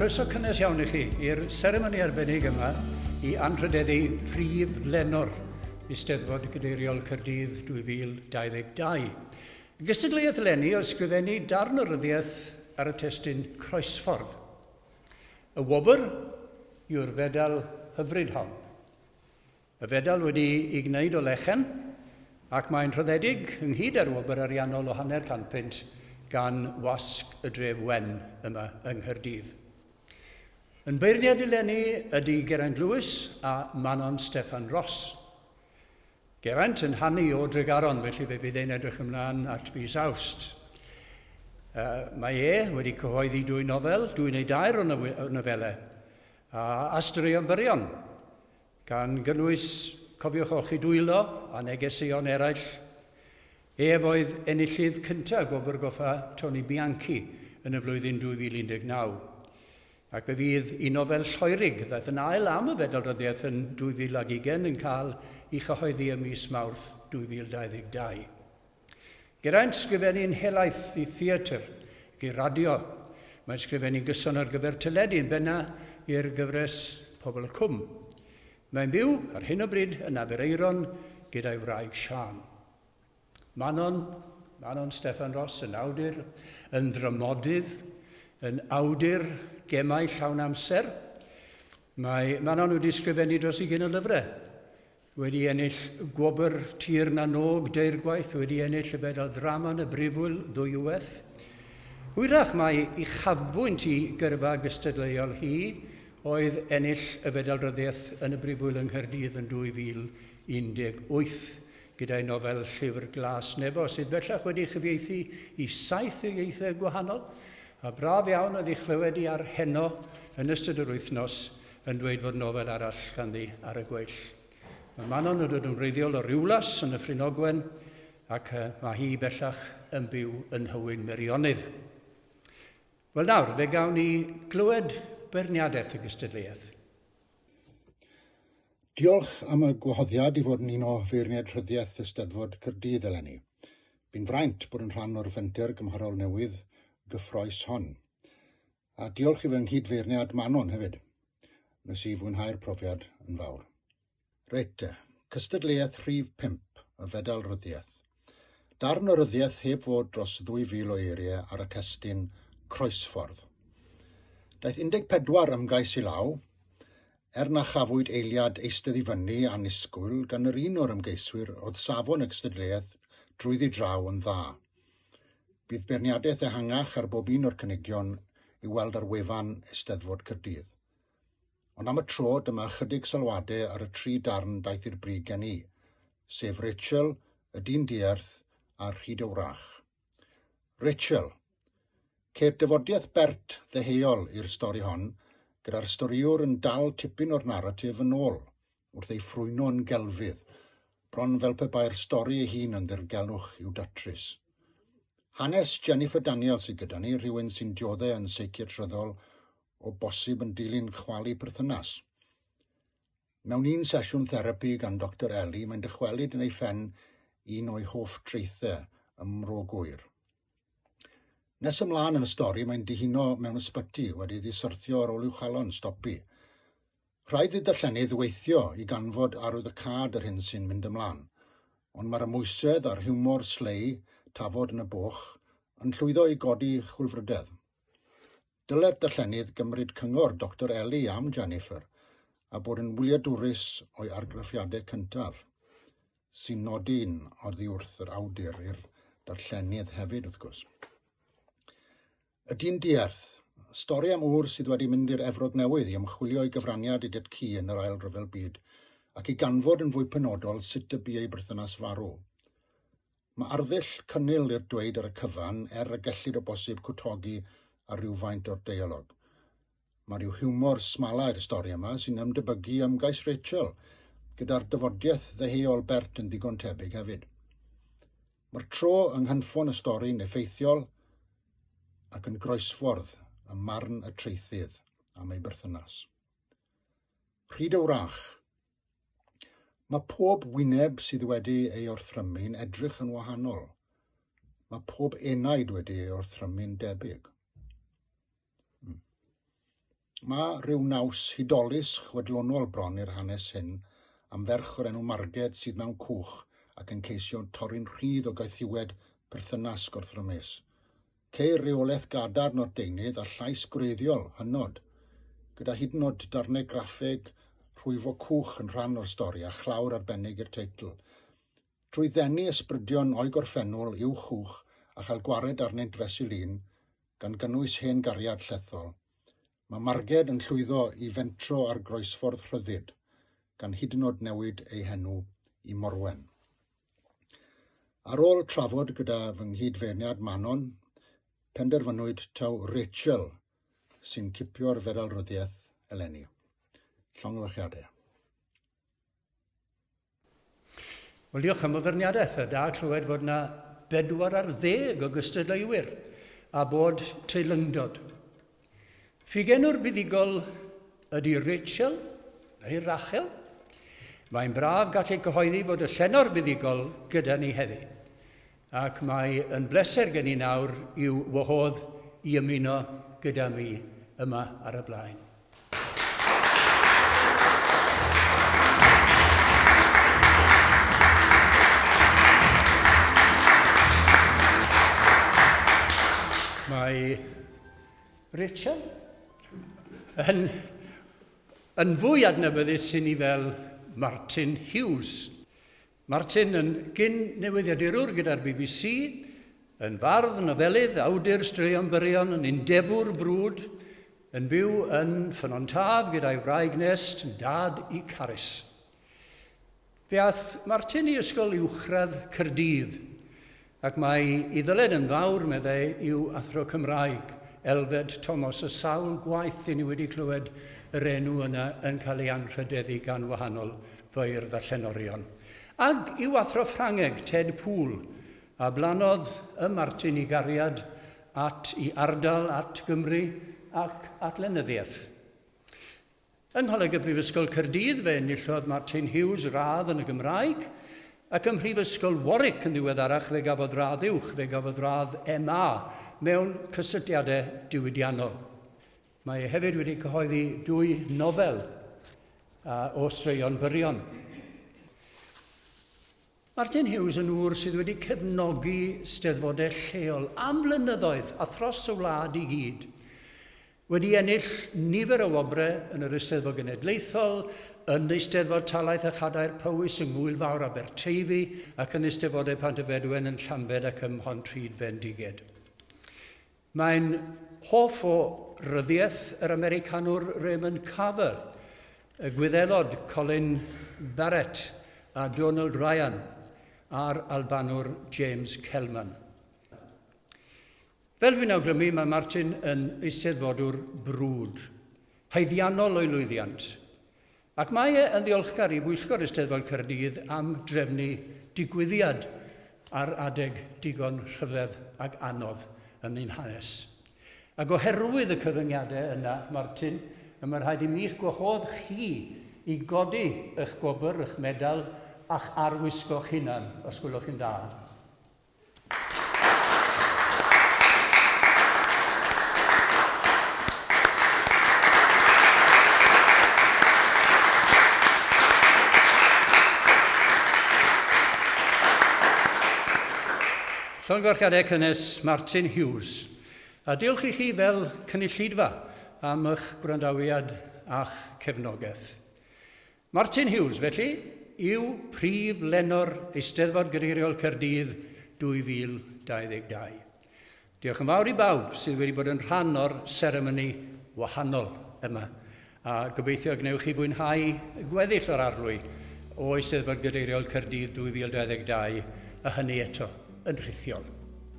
croeso cynnes iawn i chi i'r seremoni arbennig yma i anrhydeddu prif lenor Eisteddfod Gadeiriol Cyrdydd 2022. Gystadleuaeth leni o ysgrifennu darn o ryddiaith ar y testun 'Croesffordd'. Y wobr yw'r fedal hyfryd hon. Y fedal wedi'i gwneud o lechen ac mae'n rhyddedig ynghyd â'r wobr ariannol o hanner can punt gan Wasg y Dref Wen yma yng Nghaerdydd. Yn beirniadu leni ydy Geraint Lewis a Manon Steffan Ros. Geraint yn hanu o Dregaron felly fe fydd e'n edrych ymlaen at fis Awst. Mae e wedi cyhoeddi dwy nofel, dwy neu dair o nofelau, a a straeon byrion, gan gynnwys Cofiwch Olchi Dwylo a negeseuon eraill. Ef oedd enillydd cyntaf Gwobr Goffa Tony Bianchi yn y flwyddyn 2019. Ac fe fydd un nofel Lloerig ddaeth yn ail am y Fedal Ryddiaith yn 2020 yn cael ei chyhoeddi ym mis Mawrth 2022. Geraint sgrifennu'n helaeth i theatr ac i radio. Mae'n sgrifennu'n gyson ar gyfer teledu yn benna' i'r gyfres Pobl y Cwm. Mae'n byw, ar hyn o bryd, yn Aberaeron gyda'i wraig Siân. Manon, Manon Steffan Ros yn awdur, yn ddramodydd, yn awdur gemau llawn amser. Mae Manon wedi sgrifennu dros ugain o lyfrau. Wedi ennill gwobr Tir na Nog deirgwaith, wedi ennill y Fedal Ddrama yn y Brifwyl ddwywaith. Hwyrach mai uchafbwynt i gyrfa gystadleuol hi oedd ennill y Fedal Ryddiaith yn y Brifwyl yng Nghaerdydd yn 2018. Gyda'i nofel Llyfr Glas Nebo, sydd bellach wedi'i chyfieithu i saith ieithoedd gwahanol, a braf iawn oedd ei chlywed hi ar Heno yn ystod yr wythnos yn dweud fod nofel arall ganddi ar y gweill. Mae Manon yn dod yn wreiddiol o Riwlas yn Nyffryn Ogwen ac mae hi bellach yn byw yn Nhywyn Meirionnydd. Wel nawr, fe gawn ni glywed beirniadaeth y gystadleuaeth. Diolch am y gwahoddiad i fod yn un o feirniaid rhyddiaith Eisteddfod Caerdydd eleni. Bu'n fraint bod yn rhan o'r fenter gymharol newydd gyffrous hon. A diolch i fy nghyd-feirniad Manon hefyd. Nes i fwynhau'r profiad yn fawr. Reit te, cystadleuaeth rhif pump, y Fedal Ryddiaith. Darn o ryddiaith heb fod dros 2,000 o eiriau ar y testun Croesffordd. Daeth 14 ymgais i law, er na chafwyd eiliad eistedd i fyny annisgwyl gan yr un o'r ymgeiswyr oedd safon y gystadleuaeth drwyddi draw yn dda. Bydd beirniadaeth ehangach ar bob un o'r cynigion i'w weld ar wefan Eisteddfod Caerdydd. Ond am y tro, dyma ychydig sylwadau ar y tri darn daeth i'r brig gen i, sef Rachel, y dyn dierth, a'r rhyd y wrach. Rachel. Ceir dyfodiaeth bert ddeheuol i'r stori hon, gyda'r storïwr yn dal tipyn o'r naratif yn ôl, wrth ei ffrwyno'n gelfydd, bron fel pe bai'r stori ei hun yn ddirgelwch i'w datrys. Hanes Jennifer Daniel sydd gyda ni, rhywun sy'n diodde yn seiciatryddol, o bosib yn dilyn chwalu perthynas. Mewn un sesiwn therapi gan Doctor Ellie, mae'n dychwelyd yn ei phen un o'i hoff traethau ym Mro Gŵyr. Nes ymlaen yn y stori, mae'n dihuno mewn ysbyty, wedi ddisyrthio ar ôl i'w chalon stopi. Rhaid i'r darllenydd weithio i ganfod arwyddocâd yr hyn sy'n mynd ymlaen, ond mae'r amwysedd a'r hiwmor slei, tafod yn y boch, yn llwyddo i godi chwilfrydedd. Dylai'r darllenydd gymryd cyngor Doctor Ellie am Jennifer a bod yn wyliadwrus o'i argraffiadau cyntaf, sy'n nodi'n oddiwrth yr awdur i'r darllenydd hefyd, wrth gwrs. Ydy'n diarth. Stori am ŵr sydd wedi mynd i'r Efrog Newydd i ymchwilio i gyfraniad Idiot Key yn yr Ail Ryfel Byd, ac i ganfod yn fwy penodol sut y bu ei berthynas farw. Mae arddull cynnil i'r dweud ar y cyfan, er y gellid o bosib cwtogi ar rywfaint o'r deialog. Mae rhyw hiwmor smalai'r stori yma sy'n ymdebygu ymgais Rachel, gyda'r dyfodiaeth ddeheuol Bert yn ddigon tebyg hefyd. Mae'r tro yng nghynffon y stori'n effeithiol ac yn groesffordd ym marn y traethydd am ei berthynas. Pryd y wrach. Mae pob wyneb sydd wedi ei orthrymu'n edrych yn wahanol. Mae pob enaid wedi ei orthrymu'n debyg. Mae rhyw naws hudolus chwedlonol bron i'r hanes hyn am ferch o'r enw Marged sydd mewn cwch ac yn ceisio torri'n rhydd o gaethiwed perthynas gorthrymus. Ceir reolaeth gadarn o'r deunydd a llais gwreiddiol, hynod, gyda hyd yn oed darnau graffeg rhwyfo cwch yn rhan o'r stori a chlawr arbennig i'r teitl. Trwy ddenu ysbrydion o'i gorffennol i'w chwch a chael gwared arnynt fesul un, gan gynnwys hen gariad llethol, mae Marged yn llwyddo i fentro ar groesffordd rhyddid, gan hyd yn oed newid ei henw i Morwen. Ar ôl trafod gyda fy nghyd-feirniad Manon, penderfynwyd taw Rachel sy'n cipio'r feddalryddiaeth eleni. Llongyfarchiadau. Wel, diolch am y feirniadaeth. Da clywed fod yna bedwar ar ddeg o gystadleuwyr a bod teilyngdod. Ffugenwr buddugol ydy Rachel, neu Rachel. Mae'n braf gallu cyhoeddi fod y llenor buddugol gyda ni heddi. Ac mae yn bleser gen i nawr i'w wahodd i ymuno gyda mi yma ar y blaen. Mae Rachel yn, yn fwy adnabyddus i ni fel Martin Hughes. Martin yn gyn-newyddiadurwr gyda'r bbc, yn fardd, nofelydd, awdur straeon byrion, yn undebwr brwd, yn byw yn Ffynnon Taf gyda'i wraig Nest, yn dad i Carys. Fe aeth Martin i Ysgol Uwchradd Caerdydd. Ac mae i ddyled yn fawr, meddai, yw Athro Cymraeg, Elfed Tomos, y sawl gwaith i ni wedi clywed yr enw yna yn cael ei anrhydeddu gan wahanol feirdd a llenorion. Ac i'w Athro Ffrangeg, Ted Poole, a blannodd ym Martin i gariad at i ardal, at Gymru ac at lenyddiaeth. Yng Ngholeg y Brifysgol Caerdydd fe enillodd Martin Hughes radd yn y Gymraeg, ac ym Mhrifysgol Warwick yn ddiweddarach fe gafodd radd uwch, fe gafodd radd MA mewn Cysylltiadau Diwydiannol. Mae e hefyd wedi cyhoeddi dwy nofel o straeon byrion. Martin Hughes yn ŵr sydd wedi cefnogi steddfodau lleol am flynyddoedd a thros y wlad i gyd. Wedi ennill nifer o wobrau yn yr Eisteddfod Genedlaethol, yn Eisteddfod Talaith a Chadair Powys yng Ngŵyl Fawr Aberteifi ac yn Eisteddfodau Pant-y-Fedwen yn Llambed ac ym Mhontrhyd Fendigaid. Mae'n hoff o ryddiaith yr Americanwr Raymond Carver, y Gwyddelod Colin Barrett a Donald Ryan a'r Albanwr James Kelman. Fel dwi'n awgrymu, mae Martin yn eisteddfodwr brwd, haeddiannol o'i lwyddiant, Ac mae e yn ddiolchgar i bwyllgor Eisteddfod Caerdydd am drefnu digwyddiad ar adeg digon rhyfedd ac anodd yn ein hanes. Ac oherwydd y cyfyngiadau yna, Martin, y mae rhaid i mi'ch gwahodd chi i godi y'ch gwobr, y'ch medal, a'ch arwisgo'ch hunan, os gwelwch chi'n dda. Llongyfarchiadau cynnes Martin Hughes, a diolch i chi fel cynulleidfa am eich gwrandawiad a'ch cefnogaeth. Martin Hughes, felly, yw prif lenor Eisteddfod Gyreiriol Caerdydd 2022. Diolch yn fawr i bawb sydd wedi bod yn rhan o'r seremoni wahanol yma, a gobeithio y gwnewch chi fwynhau gweddill o'r arlwy o Eisteddfod Gyreiriol Caerdydd 2022, a hynny eto yn rhithiol.